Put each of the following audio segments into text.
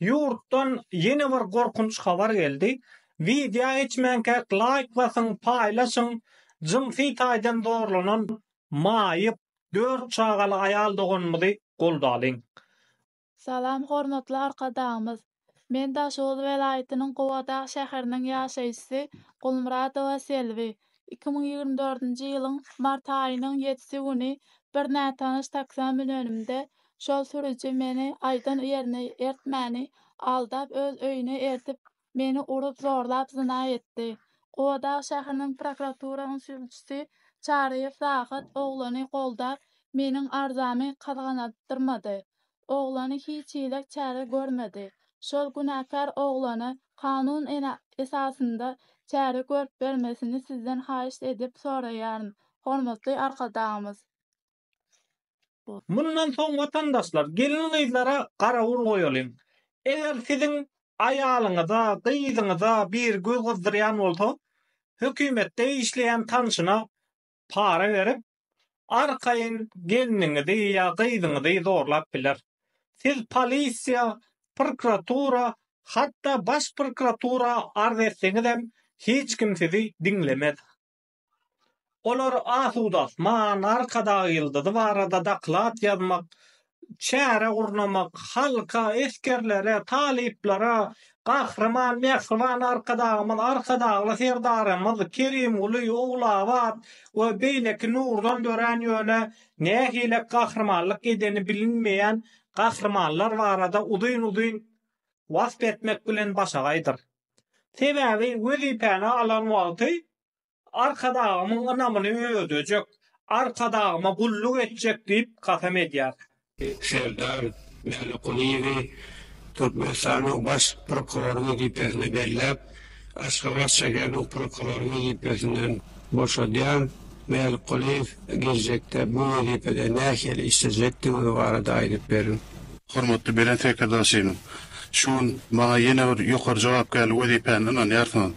Ýurtdan ýene bir gorkunç habar geldi. Wideo geçmänkä laýk basyň paýlaşyň jynsy taýdan zorlanan maýyp dört çagaly aýal doganymyzy goldalyň. Salam hormatly Arkadagymyz! Men Daşoguz welaýatynyň Gubadag şäheriniň ýaşaýjysy Gulmyradowa Selbi. Iki müň ýigrimi dördünji ýylyň mart aýynyň ýedisi güni bir nätanyş taksä münenimde, şol sürüji meni aýdan ýerine ertmäni aldap, öz öýüne ertip, meni urup-zorlap zyna etdi. Gubadag şäheriniň prokuraturasynyň sülçüsi Çaryýew Rahat oglany goldap, meniň arzamy gyzgandyrmady. oglany hiç hili çäre görmedi. Şol günäkär oglana kanun esasynda çäre görüp bermesini sizden haýyşt edip soraýaryn, hormatly Arkadagymyz! Mundan soň watandaşlar gelin-gyzlara garawul goýalyň. Eger siziň aýalyňyza, gyzyňyza biri göz gyzdyrýan bolsa, hökümetde işleýän tanşyna para berip, arkaýyn gelniňizi ýa gyzyňyzy zorlap biler. Siz polisiýa, prokuratura, hatda baş prokuratura arz etseňizem, hiç kim sizi diňlemez. Olar Asuda Asman, Arkadag ýyldyzy barada doklad ýazmak, çäre gurnamak, halka, esgerlere, talyplara Gahryman Mähriban Arkadagymyz, Arkadagly Serdarymyz Kerimguly, Ogulabat we beýleki nurdan dörän ýöne nähilek gahrymanlyk edeni bilinmeýän gahrymanlar barada uzyn-uzyn wasp etmek bilen başagaýdyr. Sebäbi wezipäni alan wagty Arkadagymyň ynamyny özlejek, Arkadagyma gulluk etjek diýip kasam edýär. Serdar Mälikgulyýewi Türkmenistanyň Baş prokurory wezipesine belläp, Aşgabat şäheriniň prokurory wezipesinden boşadýan Mälikgulyýew geljekde bu wezipede nähili işlejekdigi barada aýdyp berin. Hormatly Belent Sekirdar Şirin! Şu gün maňa ýene bir ýokary jogapkärli wezipäni ynanýarsyňyz.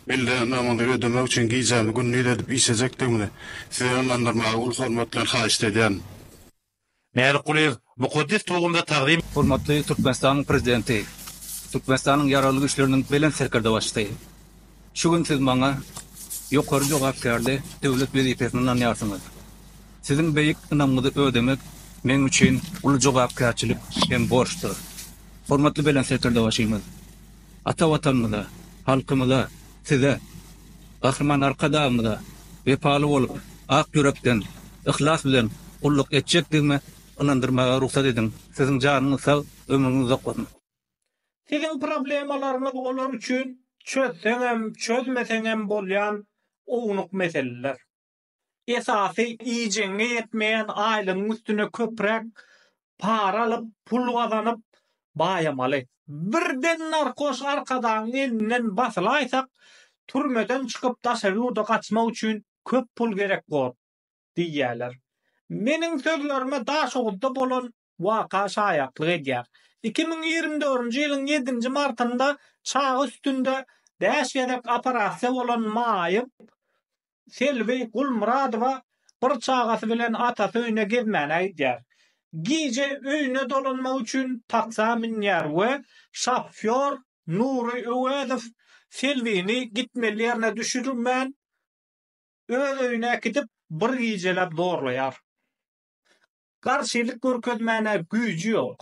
Milli namyňyzy ödemek üçin gijämi-gündiz edip işlejekdigimizi Size ynandyrmagy uly hormat bilen haýyşt edýärin. Mälikgulyýew mukaddes tugumda tagzym. Hormatly Türkmenistanyň Prezidenti, Türkmenistanyň Ýaragly Güýçleriniň Belent Serkerdebaşysy! Şu gün Siz maňa ýokary jogapkärli döwlet wezipesini ynanýarsyňyz. Siziň beýik ynamyňyzy ödemek meň üçin uly jogapkärçilik hem borçdur. Hormatly Belent Serkerdebaşymyz! Ata Watanymyza, halkymyza, Size, Gahryman Arkadagymyza wepaly bolup, ak ýürekden, yhlas bilen gulluk etjekdigimi ynandyrmaga rugsat ediň. Siziň janyňyz sag, ömrüňiz uzak bolsun! Siziň problemalaryňyz olar üçin çözseňem, çözmeseňem bolýan ownuk meseleler. esasy iýjegiňe ýetmeýän aýlygyň üstüne köpräk para alyp, pul gazanyp baýamaly. Birden narkoş arkadagyň elinden basylaýsak, türmeden çykyp daşary ýurda gaçmak üçin köp pul gerek bor diýýärler. Meniň sözlerime Daşoguzda bolan waka şaýatlyk edýär. Iki müň ýigrimi dördünji ýylyň ýedinji martynda çaga üstünde bäş gezek operasiýa bolan maýyp Selbi Gulmyradowa bir çagasy bilen atasy öýüne gezmäne gidýär. Gije öýüne dolanmak üçin taksa münýär we şofýor Nury Öwezow Selbini gitmeli ýerine düşürmän, öz öýüne äkidip, bir gijeläp zorlaýar. Garşylyk görkezmäne güýji ýok.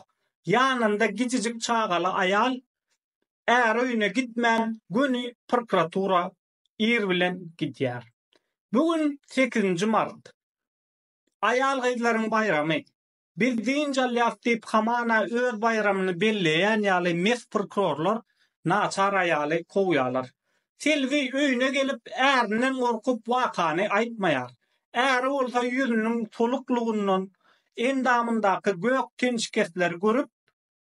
Ýanynda gijijik çagaly aýal Är öýüne gitmän göni prokuratura ir bilen gidýär. Bu gün sekizinji mart. Aýal-gyzlaryň baýramy. Biz dynç alýas diýip hamana öz baýramyny belleýän ýaly mes prokurorlar naçar aýaly kowýarlar. Selbi öýüne gelip, ärinden gorkup wakany aýtmaýar. Äri bolsa ýüzüniň soluklygyndan endamyndaky gök tenşikesleri görüp,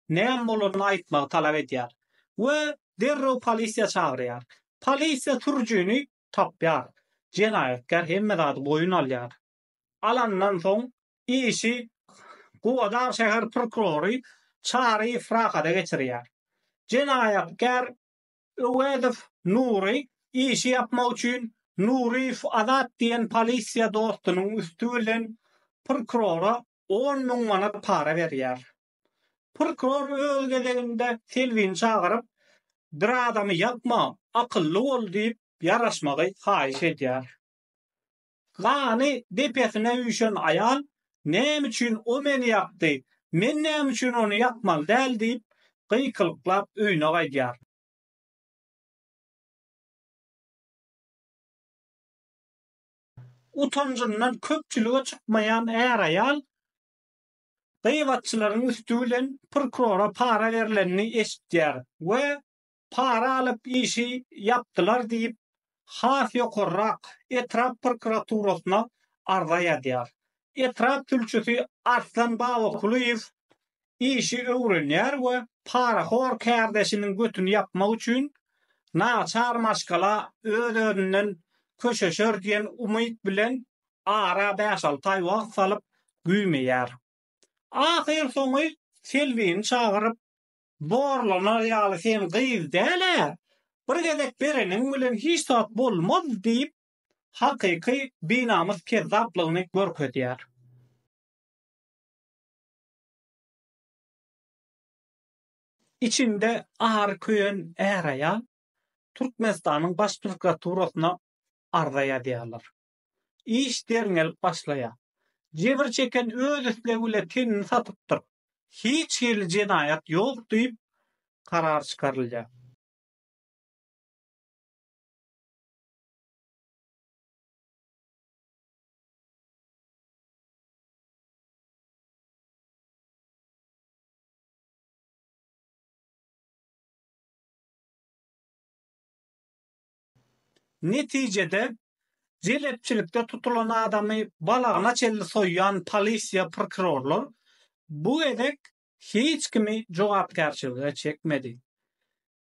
näme bolanyny aýtmagy talap edýär we derrew polisiýa çagyrýar. Polisiýa sürüjini tapýar. Jenaýatkär hemme zady boýun alýar. Alandan soň işi Gubadag şäher prokurory Çary Frahada geçirýär. Jenaýatkär Öwezow Nury işi ýapmak üçin Nuryýew Azat diýen polisiýa dostunyň üsti bilen prkurora on müň manat para berýär. Prkuror öz gezeginde Selbini çagyryp, Bir adamy ýakma, akylly bol diýip ýaraşmagy haýyş edýär. Gany depesine üýşen aýal, Näme üçin o meni ýakdy? Men näme üçin ony ýakmaly däl? diýip, gykylyklap öýüne gaýdýar. Utanjyndan köpçülige çykmaýan är-aýal gybatçylaryň üsti bilen prokurora para berlenini eşitýär we para alyp işi ýapdylar diýip, has ýokarrak etrap prokuraturasyna arza ýazýar. Etrap sülçüsi Arslan Babakulyýew işi öwrenýär we parahor kärdeşiniň götüni ýapmak üçin naçar maşgala öz-özünden köşeşer diýen umyt bilen ara bäş-alty aý wagt salyp güýmeýär. Ahyrsoňy Selbini çagyryp, Zorlanar ýaly sen gyz däl-ä. Bir gezek bereniň bilen hiç zat bolmaz diýip, hakyky binamys kezzaplygyny görkezýär. Içinde ary köýen är-aýal Türkmenistanyň Baş prokuraturasyna arza ýazýarlar. Iş derňelip başlaýar. Jebir çeken öz islegi bilen tenini satypdyr. Hiç hili jenaýat ýok diýip, karar çykarylýar. Netijede, jelepçilikde tutulan adamy balagyna çenli soýýan polisiýa prokurorlar bu gezek hiç kimi jogapkärçilige çekmedi.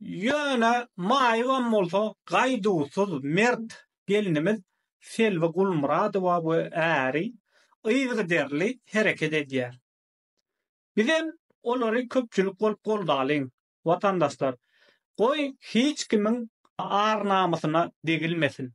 Ýöne maýybam bolsa gaýduwsyz, mert gelnimiz Selbi Gulmyradowa we äri yzygiderli hereket edýär. Bizem olary köpçülik bolup goldalyň! watandaşlar, goý, hiç kimiň ar-namysyna degilmesin.